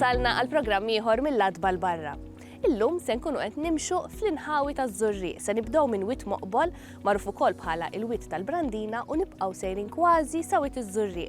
wasalna għal programm ieħor mill-adba l-barra. Illum se nkunu qed nimxu fl-inħawi taż-żurri, se nibdew minn wit moqbol, magħruf ukoll bħala il-wit tal-Brandina u nibqgħu sejrin kważi sa wit iż-żurri.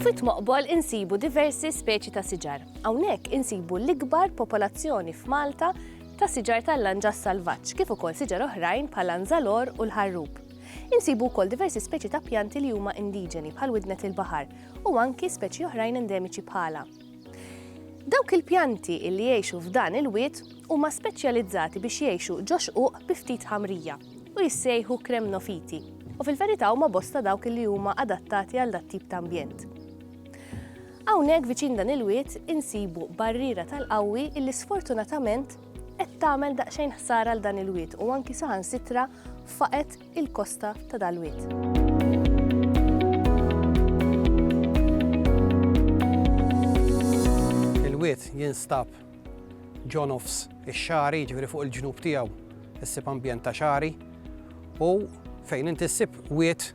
F'Wied Moqbol insibu diversi speċi ta' siġar. Hawnhekk insibu l-ikbar popolazzjoni f'Malta ta' siġar tal-lanġas salvaġġ kif ukoll siġar oħrajn bħal anzalor u l-ħarrub. Insibu wkoll diversi speċi ta' pjanti li huma indiġeni bħal widnet il-baħar u anki speċi oħrajn endemiċi bħalha. Dawk il-pjanti li jgħixu f'dan il-wied huma speċjalizzati biex jgħixu ġo xquq bi ftit ħamrija. u jissejħu kremnofiti, u fil-verità huma bosta dawk li huma adattati għal dat-tip ta' ambjent. Hawnhekk viċin dan il-wied insibu barriera tal-qawwi illi sfortunatament qed tagħmel daqsxejn ħsara għal dan il-wied u anki saħansitra faqet il-kosta ta' dal-wied. Il-wied jinstab Ġo nofs ix-xagħri, jiġifieri fuq il-ġnub tiegħu, issib ambjent ta' xagħri u fejn inti ssib wied,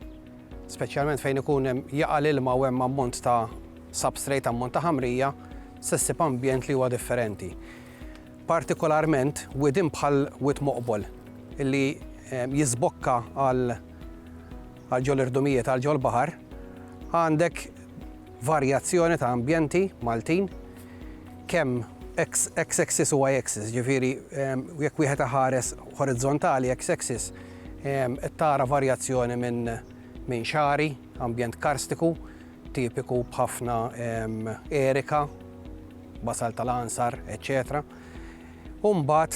speċjalment fejn ikun hemm jaqa' l-ilma u hemm ammont ta' substrate, ammont ta' ħamrija, se ssib ambjent li huwa differenti. Partikolarment widien bħal Wied Moqbol li jiżbokka għal ġol-irdumijiet, għal ġol-baħar, għandek varjazzjoni ta' ambjenti Maltin, kemm x-axis u y-axis, jiġifieri jekk wieħed iħares horizzontali x-axis qed tara varjazzjoni minn xagħri, ambjent karstiku tipiku b'ħafna erika, basalt tal-għansar, eċċetera u mbagħad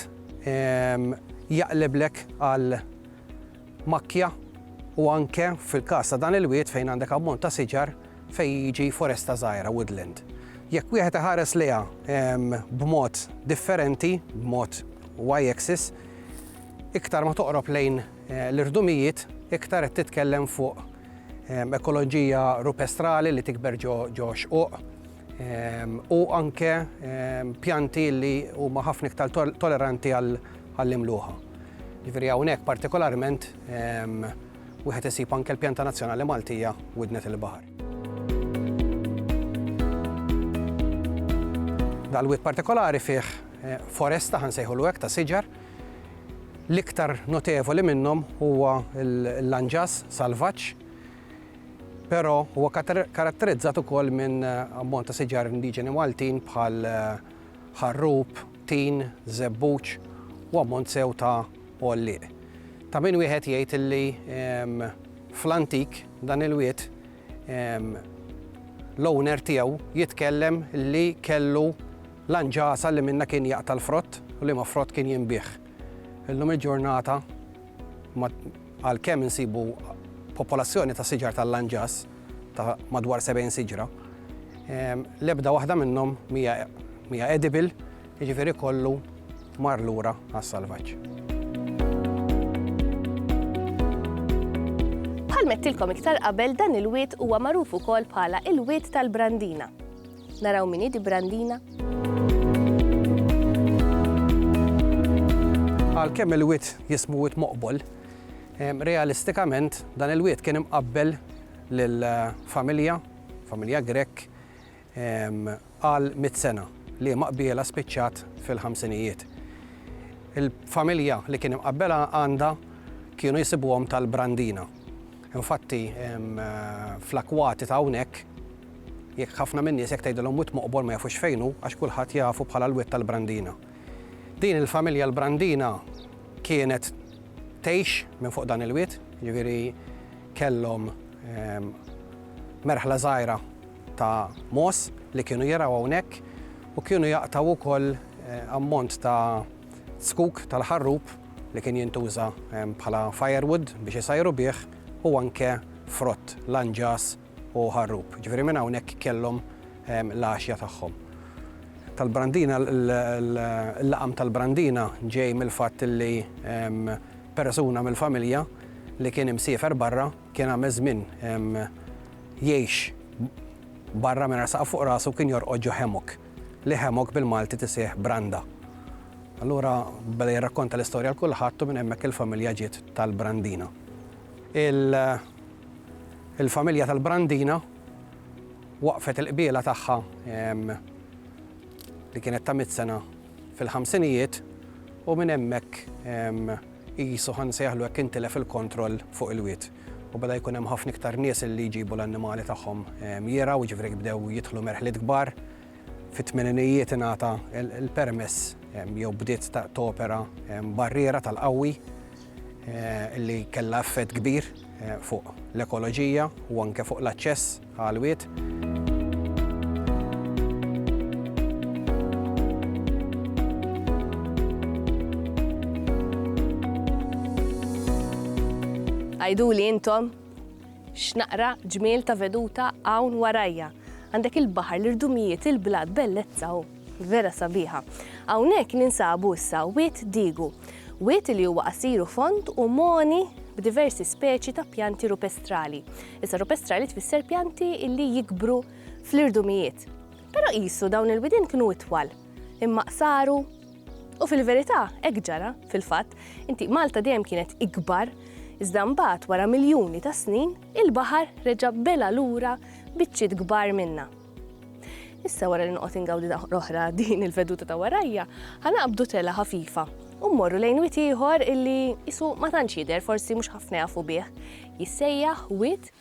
jaqliblek għal makkja u anke fil-każ ta' dan il-wied fejn għandek ammont ta' siġar fejn jiġi foresta żgħira, woodland. Jekk wieħed iħares lejha b'mod differenti, b'mod y-axis, iktar ma toqrob lejn eh, l-irdumijiet, iktar qed titkellem fuq ekoloġija rupestrali li tikber ġo xquq, u anke pjanti li huma ħafna iktar toleranti għall-imluħa. Ġifieri hawnhekk partikolarment wieħed isib anke l-pjanta nazzjonali Maltija widnet il-baħar. Dal-wied partikolari fih foresta ħansejħulu hekk ta' siġar. L-iktar notevoli minnhom huwa l-lanġas salvaġġ Però huwa karatterizzat ukoll minn ammont ta' siġar indiġeni Maltin bħal ħarrub, tin, żebbuġ u ammont sew ta' għollieq. Ta' min wieħed jgħid li fl-antik dan il-wied l-owner tiegħu jitkellem li kellu l-għanġasa li minnha kien jaqta' l-frott u liema frott kien jinbiegħ. Illum il-ġurnata ma Għalkemm insibu popolazzjoni ta' siġar tal-lanġas ta' madwar 70 siġra, l-ebda waħda minnhom mhija edible, jiġifieri kollu mar lura għas-salvaġġ. Bħalma għedtilkom iktar qabel dan il-wied huwa magħruf ukoll bħala il-wied tal-Brandina. Naraw min hi di Brandina? Għalkemm il-wied jismu wied moqbol, realistikament dan il-wied kien imqabbel lill-familja, familja Grek, għal mit sena li ma qbiela spiċċat fil-ħamsinijiet. Il-familja li kien imqabbela għandha kienu jisibuhom tal-Brandina. Infatti, fl-akwati ta' hawnhekk Jekk ħafna min-nies jekk tgħidilhom Wied Moqbor ma jafux fejn hu għax kulħadd jafu bħala l-Wied tal-Brandina. Din il-familja l-Brandina kienet tgħix minn fuq dan il-wied, jiġifieri kellhom merħla żgħira ta' mogħoż li kienu jirgħu hawnhekk u kienu jaqtgħu wkoll ammont ta' zkuk tal-ħarrub li kien jintuża bħala firewood biex isajru bih u anke frott, lanġas, u Ħarrub. Ġifieri minn hawnhekk kellhom l-għaxja tagħhom. Tal-Brandina l-laqam tal-Brandina ġej mill-fatt li persuna mill-familja li kien imsiefer barra kien għamel żmien jgħix barra mingħajr saqaf fuq rasu kien jorqod ġo hammock, li hammock bil-Malti tiseħħ branda. Allura beda jirrakkonta l-istorja l kulħadd u minn hemmhekk il-familja ġiet tal-Brandina. Il- Il-familja tal-Brandina waqfet il-qbiela tagħha li kienet ta' mitt sena fil-ħamsinijiet u minn hemmhekk qisu ħa nsejħlu hekk intilef il-kontroll fuq il-wied u beda jkun hemm ħafna iktar nies li jġibu l-annimali tagħhom jirgħu, jiġifieri bdew jidħlu merħliet kbar. Fit-tmeninijiet ingħata l-permess jew bdiet topera barriera tal-qawwi li kellha effett kbir fuq l-ekoloġija u anke fuq l-aċċess għall-wied. Għiduli intom! X'naqra ġmiel ta' veduta hawn warajja. Għandek il-baħar, l-irdumijiet, il-blat, bellezza u vera sabiħa. Hawnhekk ninsabu issa wied Digu. Wied li huwa qasir u fond u moni b'diversi speċi ta' pjanti rupestrali. Issa rupestrali tfisser pjanti illi jikbru fl-irdumijiet. Però qisu dawn il-widien kienu itwal, imma qsaru U fil-verità, hekk ġara, fil-fatt, inti Malta dejjem kienet ikbar, iżda mbagħad wara miljuni ta' snin, il-baħar reġa' bela' lura biċċiet kbar minnha. Issa wara li noqgħod ingawdi oħra din il-veduta ta' warajja, ħa naqbdu tela ħafifa u mmorru lejn wit ieħor illi isu ma tantx jidher, forsi mhux ħafna jafu bih. Jissejjaħ wit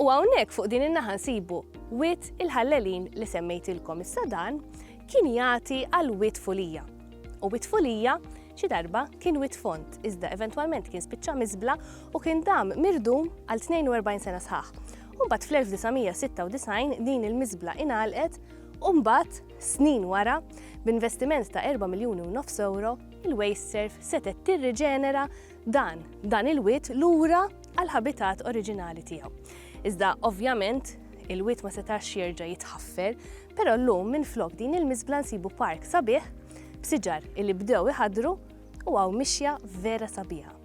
U hawnhekk fuq din in-naħa nsibu Wied il-Ħallelin li semmejtilkom issa dan kien jagħti għal Wied Fulija. U Wied Fulija xi darba kien Wied Fond iżda eventwalment kien spiċċa miżbla u kien dam mirdum għal 42 sena sħaħ. U mbagħad fl-1996 din il-miżbla ingħalqet u mbagħad snin wara b'investiment ta' 4 miljuni u nofs euro il-Waste Surf setgħet tirriġenera dan, dan il-wied lura għall-ħabitat oriġinali tiegħu. Iżda ovvjament il-wied ma setax jerġa' jitħaffer, però llum minflok din il-miżbla nsibu park sabiħ b'siġar illi bdew iħadru u għaw mixja vera sabiħa.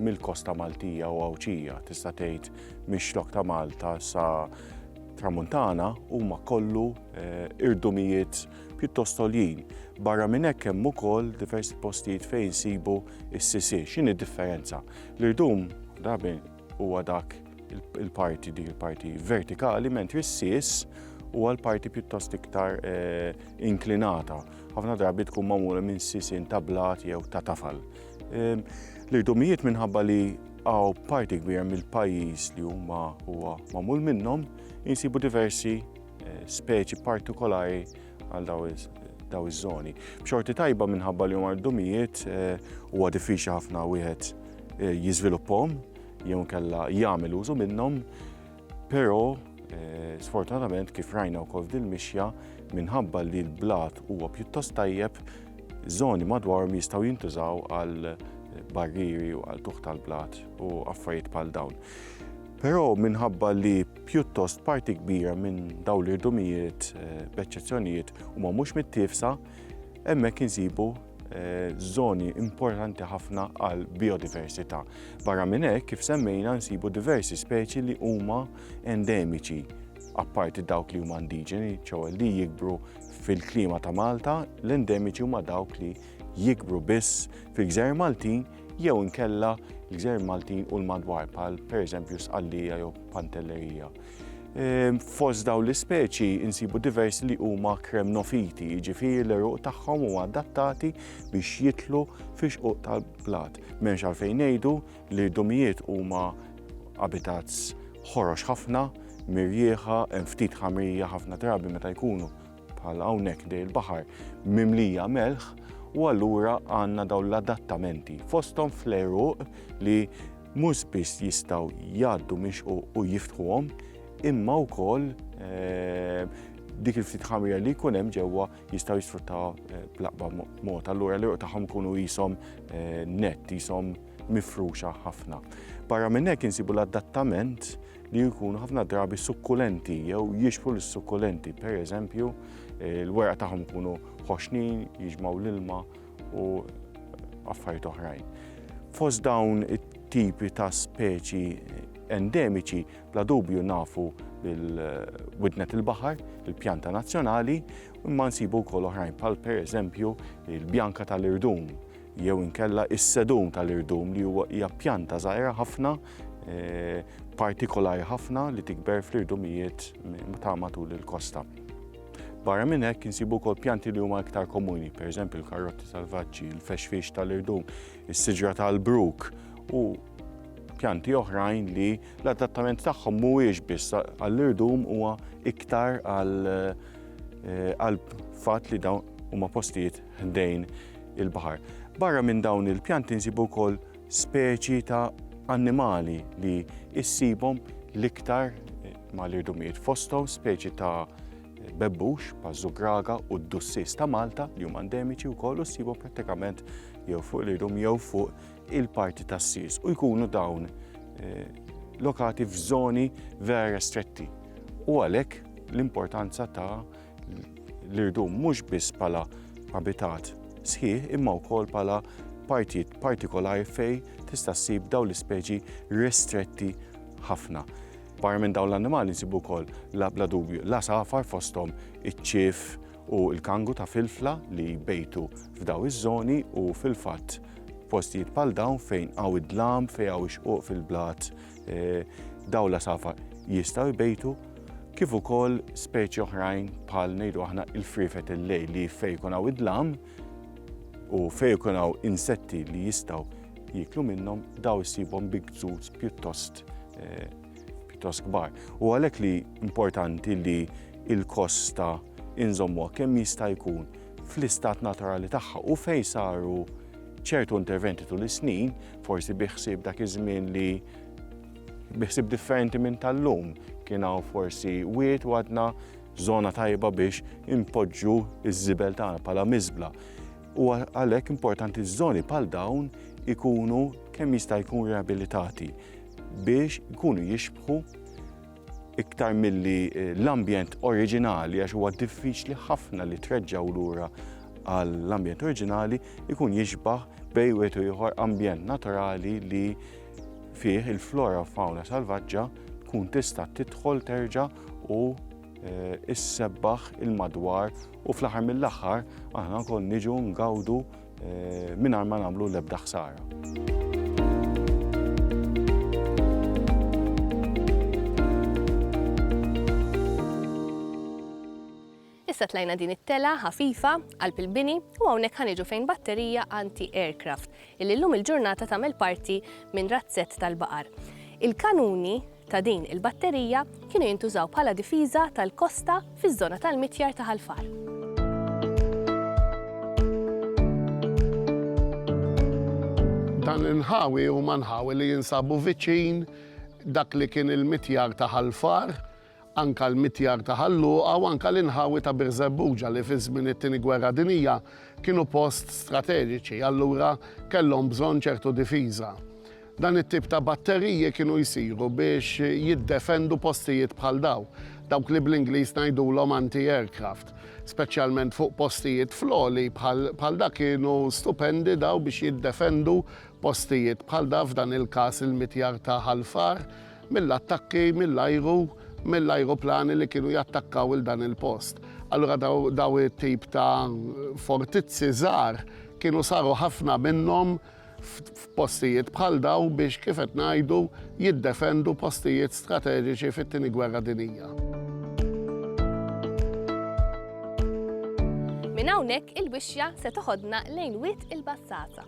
mill-kosta Maltija u Għawdxija, tista' tgħid mix-Xlokk ta' Malta sa Tramuntana huma kollu eh, irdumijiet pjuttost għoljin. Barra minn hekk hemm ukoll diversi postijiet fejn sibu s-sisi. X'inhi differenza? L-irdum drabi huwa dak il-parti dik il-parti vertikali mentri s-sis huwa l-parti pjuttost iktar eh, inklinata. Ħafna drabi tkun magħmula minn sisin ta' blat jew ta' tafal. L-irdumijiet minħabba li għaw parti kbira mill-pajjiż li huma huwa magħmul minnhom insibu diversi eh, speċi partikolari għal daw iż-żoni. B'xorti tajba minħabba li huma rdumijiet eh, huwa diffiċli ħafna wieħed eh, jiżviluppahom jew kella jagħmel użu minnhom Però eh, sfortunatament kif rajna wkoll f'dil mixja minħabba li l-blat huwa pjuttost tajjeb, żoni madwarhom jistgħu jintużaw għal barriri u għal tuħ tal-blat u affarijiet bħal dawn. Però minħabba li pjuttost parti kbira minn dawn l-irdumijiet, eh, b'eċċezzjonijiet, huma mhux mit-tifsa, hemmhekk insibu żoni eh, importanti ħafna għal biodiversità. Barra minn hekk kif semmejna nsibu diversi speċi li huma endemiċi apparti dawk li huma indiġeni, ċew li jikbru fil-klima ta' Malta, l-endemiċi huma dawk li jikbru biss fil-gżer Maltin jew inkella l-gżer Maltin u l-madwar pal pereżempju sqallija jew pantellerija. Ehm, fost dawn l-ispeċi insibu diversi li huma kremnofiti, jiġifieri l-eruq tagħhom huma adattati biex jitlu fix xquq tal-blat. M'hemmx għalfejn ngħidu li dumijiet huma abitats ħorox ħafna, mirjieħa, hemm ftit ħamrija ħafna drabi meta jkunu bħal hawnhekk dej il-baħar mimlija melħ u allura għandna dawn l-adattamenti fosthom fl-eruq li mhux biss jistgħu jgħaddu minn xquq u jiftħuhom, imma wkoll dik il-ftit ħamrija li jkun hemm ġewwa jistgħu jisfruttaw bl-aqba mod. Allura l-irq tagħhom ikunu qishom nett, qishom mifruxa ħafna. Barra minn hekk insibu l-adattament li jkunu ħafna drabi sukkulenti jew jixbħu l-sukkulenti. Per eżempju, l-weraq tagħhom ikunu ħoxnin, jiġmaw l-ilma u affarijiet oħrajn. Fost dawn it-tipi ta' speċi endemiċi bla dubju nafu bil-widnet il-baħar, il-pjanta nazzjonali, imma nsibu wkoll oħrajn bħal pereżempju il-bjanka tal-irdum jew inkella is-sedum tal-irdum li huwa hija pjanta żgħira ħafna eh, partikolari ħafna li tikber fl-irdumijiet ta' matul il-kosta. Barra minn hekk insibu wkoll pjanti li huma iktar komuni, pereżempju l-karotti salvaġġi, il-fexfix tal-irdum, is-siġra tal-bruk u pjanti oħrajn li l-adattament tagħhom mhuwiex biss għall-irdum huwa iktar għal eh, fatt li dawn huma postijiet ħdejn il-baħar. Barra minn dawn il-pjanti nsibu wkoll speċi ta' annimali li issibhom l-iktar ma' l-irdumijiet fosthom speċi ta' bebbux, paż-żugraga u d-dussis ta' Malta li huma endemiċi wkoll u ssibhom prattikament jew fuq l-irdum jew fuq il-parti tas-sis u jkunu dawn eh, lokati f'żoni vera restretti. U għalhekk l-importanza ta' l-irdum mhux biss bħala abitat sħiħ imma wkoll bħala partijiet partikolari fej tista' ssib dawn l-ispeċi ristretti ħafna. Barra minn dawn l-annimali nsibu wkoll la bla dubju l-għasafar fosthom iċ-ċief u l-kangu ta' filfla li jbejtu f'daw iż-żoni u fil-fatt postijiet bħal dawn fejn hawn id-dlam, fejn hawn ix-xquq fil-blat, eh, daw l-għasafar jistgħu jbejtu kif ukoll speċi oħrajn bħal ngħidu aħna il-frifet il-lejl li fejn jkun hawn id-dlam u fejn jkun hawn insetti li jistgħu jiklu minnhom daw issibhom bi gżuz pjuttost kost eh, pjuttost kbar. U għalhekk li importanti li il-kost ta' inżommuha kemm jista' jkun fl-istat naturali tagħha u fejn saru ċertu interventi tul is-snin, forsi biħsib dak iż-żmien li biħsib differenti minn tal-lum, kien hawn forsi wiet u għadna żona tajba biex impoġġu iż-żibel tagħna bħala miżbla. Huwa għalhekk importanti li żoni bħal dawn ikunu kemm jista' jkun riabilitati biex ikunu jixbħu iktar milli eh, l-ambjent oriġinali għax huwa diffiċli ħafna li treġġaw lura għall-ambjent oriġinali ikun jixbaħ bej u ieħor ambjent naturali li fih il-flora u fauna salvaġġa tkun tista' tidħol terġa' u Eh, issebbaħ il-madwar u fl-aħħar mill-aħħar aħna wkoll niġu ngawdu eh, mingħajr ma nagħmlu l-ebda ħsara. Issa tlajna din it-tela ħafifa qalb il-bini u hawnhekk ħaniġu fejn batterija anti-aircraft illi llum il-ġurnata tagħmel parti minn razzett tal-baqar. Il-kanuni ta' din il-batterija kienu jintużaw bħala difiża tal-kosta fiż-żona tal-mitjar ta' Ħal Far. Dan l-inħawi huma nħawi li jinsabu viċin dak li kien il-mitjar ta' Ħal Far, anke l-mitjar ta' Ħal Luqa u anke l-inħawi ta' Birżebbuġa li fi żmien it-Tieni Gwerra Dinjija kienu post strateġiċi, allura kellhom bżonn ċertu difiża. Dan it-tip ta' batteriji kienu jsiru biex jiddefendu postijiet bħal dawn, dawk li bl-Ingliż ngħidulhom anti-aircraft, speċjalment fuq postijiet fl-għoli bħal da kienu stupendi dawn biex jiddefendu postijiet bħal da f'dan il-każ il-mitjar ta' Ħal Far mill-attakki mill-ajru mill-ajruplani li kienu jattakkaw 'il dan il-post. Allura dawn it-tip ta' fortizzi żgħar kienu saru ħafna minnhom f'postijiet bħal dawn biex, kif qed ngħidu, jiddefendu postijiet strateġiċi fit-Tieni Gwerra Dinjija. Minn hawnhekk il-wixja se toħodna lejn wit il-bassata.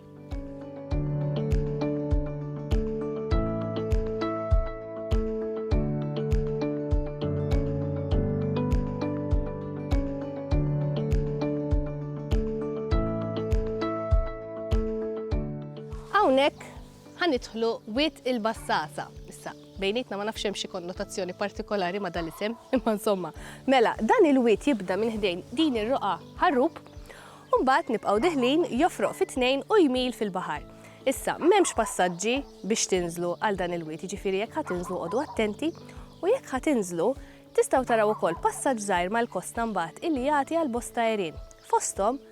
Hawnhekk ħa nidħlu Wied il-Bassasa. Issa, bejnietna ma nafx hemm xi konnotazzjoni partikolari ma' dal-isem, imma insomma. Mela, dan il-wied jibda minn ħdejn din ir-roqgħa ħarrub, u mbagħad nibqgħu diħlin jofroq fi tnejn u jmil fil-baħar. Issa, m'hemmx passaġġi biex tinżlu għal dan il-wied, jiġifieri jekk ħa tinżlu qogħdu attenti, u jekk ħa tinżlu, tistgħu taraw ukoll passaġġ żgħir mal-kosta mbagħad illi jagħti għal bosta għerien. Fosthom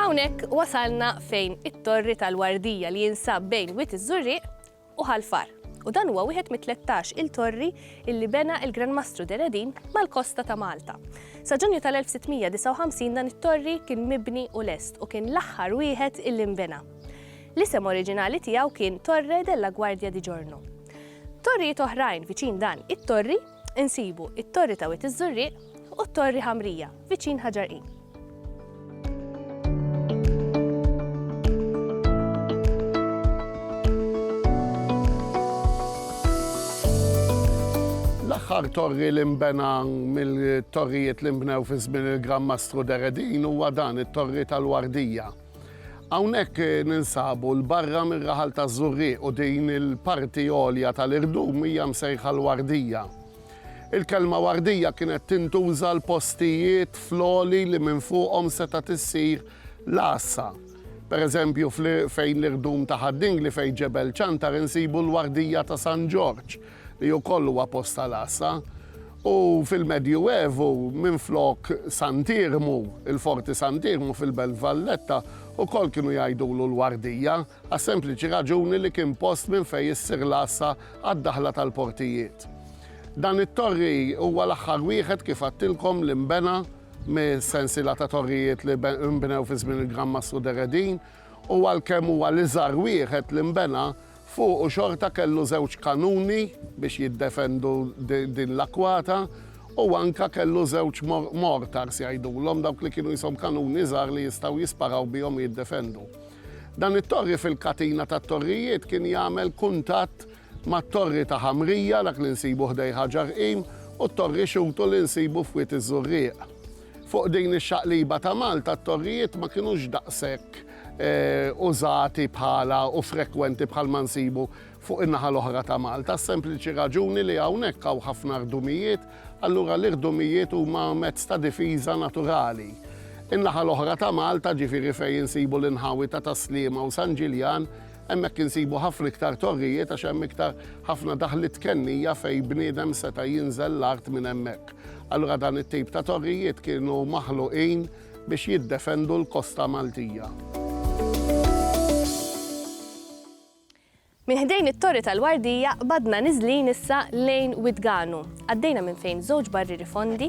Hawnhekk wasalna fejn it-Torri tal-Wardija li jinsab bejn Wied iż-Żurrieq u Ħal-Far u dan huwa wieħed mit-tlettax il-torri illi bena il-Gran Mastru Deredin mal-kosta ta' Malta. Sa Ġunju tal-1659 dan it-torri kien mibni u lest u kien l-aħħar wieħed illi nbena. L-isem oriġinali tiegħu kien Torre della Guardia di Giorno. Torrijiet oħrajn viċin dan it-torri Insibu it-Torri ta' Wied iż-Żurrieq u t-Torri Ħamrija viċin Ħaġar Qim. l-aħħar torri li nbena mill-torrijiet li nbnew fi żmien il-Gran Mastru Deredin huwa dan it-torri tal-Wardija. Hawnhekk ninsabu 'l barra mir-raħal taż-Żurrieq u din il-parti għolja tal-irdum hija msejħa l-Wardija. Il-kelma Wardija kienet tintuża 'l postijiet fl-għoli li minn fuqhom setgħet issir l-għassa. Per eżempju, fejn l-irdum ta' Ħad-Dingli fejn Ġebel Ċantar insibu l-Wardija ta' San Ġorġ. li wkoll huwa post tal-għassa, u fil-Medjuevu minflok Sant'Iermu, il-Forti Sant'Iermu fil-Belt Valletta wkoll kienu jgħidulu l-Wardija għas-sempliċi raġuni li kien post minn fejn issir l-għassa għad-daħla tal-portijiet. Dan it-torri huwa l-aħħar wieħed kif għadtilkom li nbena mis-sensiela ta' torrijiet li nbnew fi żmien il-Gran Mastru Deredin, u għalkemm huwa l-iżgħar wieħed li nbena, fuqu xorta kellu żewġ kanuni biex jiddefendu din l-akkwata u anke kellu żewġ mortars jgħidulhom, dawk li kienu qishom kanuni żgħar li jistgħu jisparaw bihom u jiddefendu. Dan it-torri fil-katina tat-torrijiet kien jagħmel kuntatt mat-Torri ta' Ħamrija, dak li nsibu ħdejn Ħaġar Qim, u t-Torri Xutu li nsibu f'Wied iż-Żurrieq. Fuq din ix-xaqliba ta' Malta t-torrijiet ma kinux daqshekk użati bħala u frekwenti bħalma nsibu fuq in-naħa l-oħra ta' Malta għas-sempliċi raġuni li hawnhekk hawn ħafna rdumijiet, allura l-irdumijiet huma mezz ta' difiża naturali. In-naħa l-oħra ta' Malta, ġifieri fejn insibu l-inħawi ta' Tas-Sliema u San Ġiljan, Hemmhekk insibu ħafna iktar torrijiet għax hemm iktar ħafna daħliet kennija fejn bniedem seta' jinżel l-art minn hemmhekk. Allura dan it-tip ta' torrijiet kienu maħluqin biex jiddefendu l-kosta Maltija. Minn ħdejn it-Torri tal-Wardija qbadna niżlin issa lejn Widganu. Għaddejna minn fejn żewġ barrieri fondi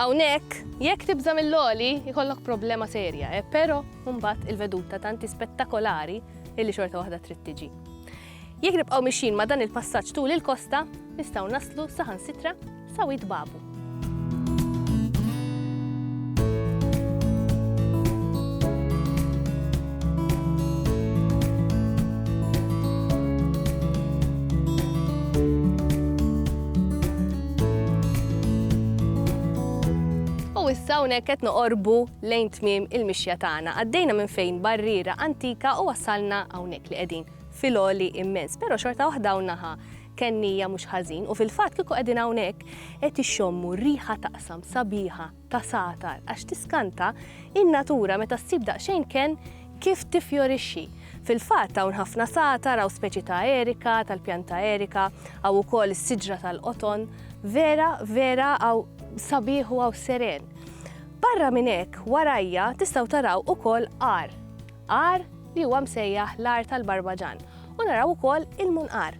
Hawnhekk, jekk tibża' mill-għoli, ikollok problema serja, eh, però mbagħad il-veduta tant hi spettakolari illi xorta waħda trid tiġi. Jekk nibqgħu mixjin ma' dan il-passaġġ tul il-kosta, nistgħu naslu saħansitra Sawit babu. issa hawnhekk qed noqorbu lejn tmiem il-mixja tagħna. Għaddejna minn fejn barriera antika u wasalna hawnhekk li qegħdin fil-oli immens, però xorta waħda hawn naħa Kennija mhux ħażin u fil-fatt kieku qegħdin hawnhekk qed ixxommu riħa ta' qsam sabiħa, ta' sagħtar għax tiskanta in-natura meta ssib daqsxejn kenn kif tiffjorixxi. Fil-fatt hawn ħafna sagħtar, hawn speċi ta' erika, tal-pjanta erika, hawn ukoll is-siġra tal-qoton. Vera, vera hawn sabiħ u hawn seren. Barra minn hekk warajja tistgħu taraw ukoll għar. għar li huwa msejjaħ l-għar tal-Barbaġan u naraw ukoll il-munqar.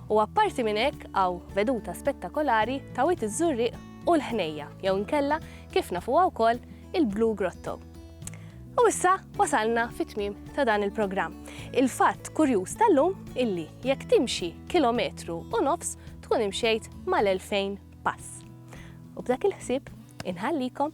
U apparti minn hekk hawn veduta spettakolari ta' Wied iż-Żurrieq u l-Ħnejja jew inkella kif nafuha wkoll il-Blue Grotto. U issa wasalna fit-tmiem ta' dan il-programm. Il-fatt kurjuż tal-lum illi jekk timxi kilometru u nofs tkun imxejt mal-2000 pass. U b'dak il-ħsieb inħallikom